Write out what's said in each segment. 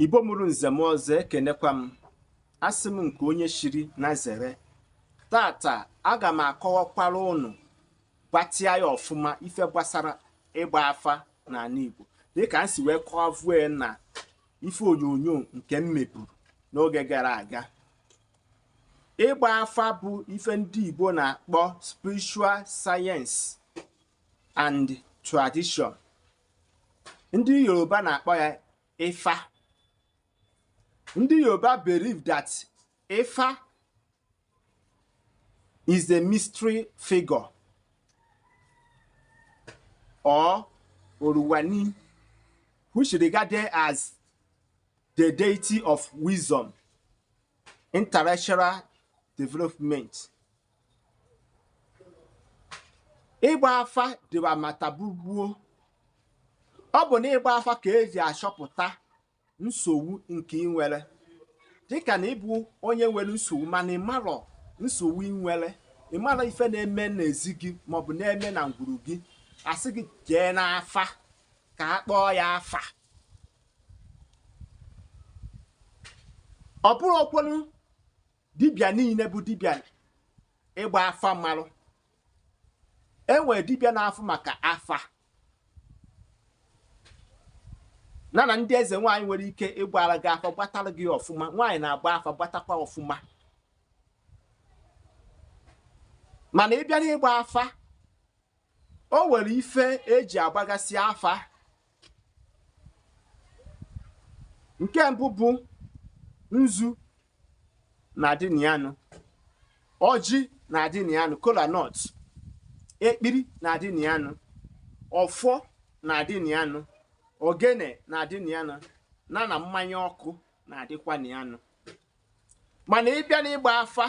Igbo mụrụ nze mụọ ọzọ ekenekwa m asị m nke onye chiri nya zere taata aga m akọwakwara ụnụ gbatịa ya ọfụma ife gbasara ịgba afa n'ala Igbo dịka m si wee kọwavue na ife onyonyo nke m meburu n'oge gara aga ịgba afa bụ ife ndị Igbo na-akpọ spiritual science and tradition ndị yoruba na-akpọ ya ifa ndị yoruba believe that ifa is a mystery figure or Oruwani, which regarded as the deity of wisdom, intellectual development, ịgba afa dịwa mata bụgbuo ọ bụ na ịgba afa ka eji achọpụta nsogbu nke ị nwere dịka na ịbụ onye nwere nsogbu mana ịmarọ nsogbu ị nwere ịmarọ ife na-eme n'ezi gị maọbụ na-eme na ngwuru gị a sị gị jee n'afa ka a kpọọ ya afa ọ bụrọkwanụ dibịa niile bụ dibịa ịgba afa marụ e nwere dibịa na-afụ maka afa na na ndị eze nwaanyị nwere ike ịgbara gị afa gbatara gị ọfụma nwaanyị na-agba afa gbatakwa ọfụma mana ịbịa n'ịgba afa o nwere ife eji agbagasị afa nke mbụ bụ nzu na-adị na ya nụ ọjị na-adị na ya nụ kola nut ekpiri na-adị na ya nụ ọfọ na-adị na ya nụ ogene na-adị na ya nụ na na mmanya ọkụ na-adịkwa na ya nụ mana ịbịa n'ịgba afa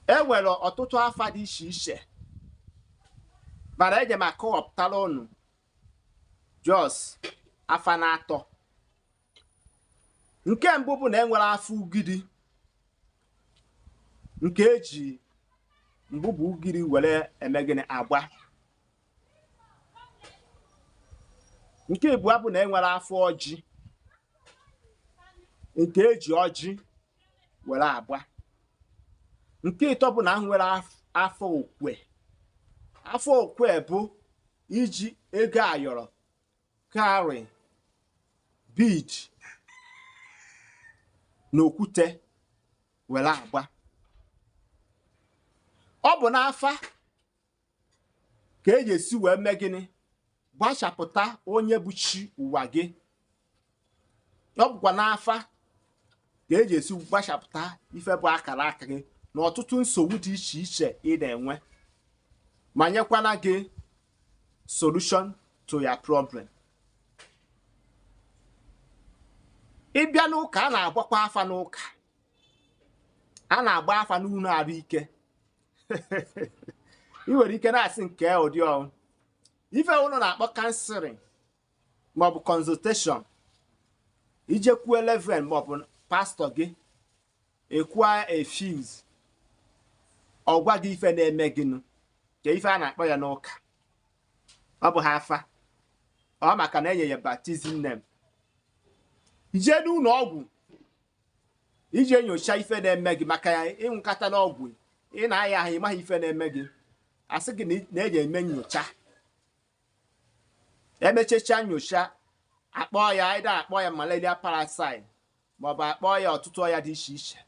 e nwere ọtụtụ afa dị iche iche mana eje m akọwapụtara unu just afa na atọ nke mbụ bụ na e nwere afa ugiri nke eji mgbugbo ugiri were eme gịnị agba nke ịbụa bụ na enwere afa ọjị nke eji ọjị were agba nke ịtọ bụ na enwere afa okwe afa okwe bụ iji ego ayọrọ cowrie bead na okwute were agba ọ bụ n'afa ka e ji esi wee mee gịnị gbachapụta onye bụ chi ụwa gị ọ bụkwa n'afa ka e ji esi gbachapụta ife bụ akara aka gị na ọtụtụ nsogbu dị iche iche ị na-enwe ma nyekwana gị solution to your problem ị bịa n'ụka a na-agbakwa afa n'ụka a na-agba afa n'ụlọ arụ ike ị nwere ike na-asị nke ụdị ọ bụ ife unu na-akpọ counseling maọbụ consultation i jekwuo reverend maọbụ pastọ gị ị kwụa fees ọ gwa gị ife na-eme gị n'ụka ife a na-akpọ ya n'ụka ọ bụ ha afa ọ maka na e nye ya baptism name i jee n'ụlọ ọgwụ iji nyochaa ife na-eme gị maka ya ị ṅụkatana ọgwụ ị na-aya ahụ ị maghị ife na-eme gị a sị gị na eji eme nyocha e mechecha nyocha akpọ ya either akpọ ya malaria parasite maọbụ akpọ ya ọtụtụ ọya dị iche iche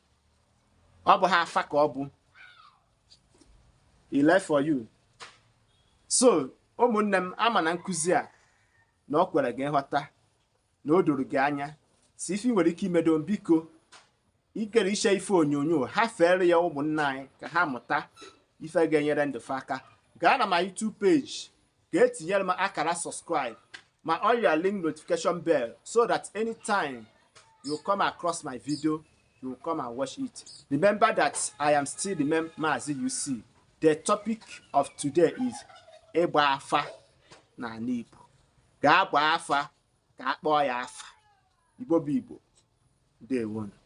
ọ bụ ha afa ka ọ bụ ile for you so ụmụnne m ama m na nkụzi a na ọ kwere gị nghọta na o doro gị anya so ife i nwere ike imedo m biko ikere iche ife onyonyo a fere ya ụmụnna anyị ka ha mụta ife ga-enyere ndụ fa aka gaa na my YouTube page ka i tinyere m akara subscribe ma on your link notification bell so that anytime you come across my video you come and watch it remember that i am still the man Mazi UC the topic of today is ịgba afa n'ala Igbo ka a gbaa afa ka a kpọọ ya afa igbo bụ igbo ndewonu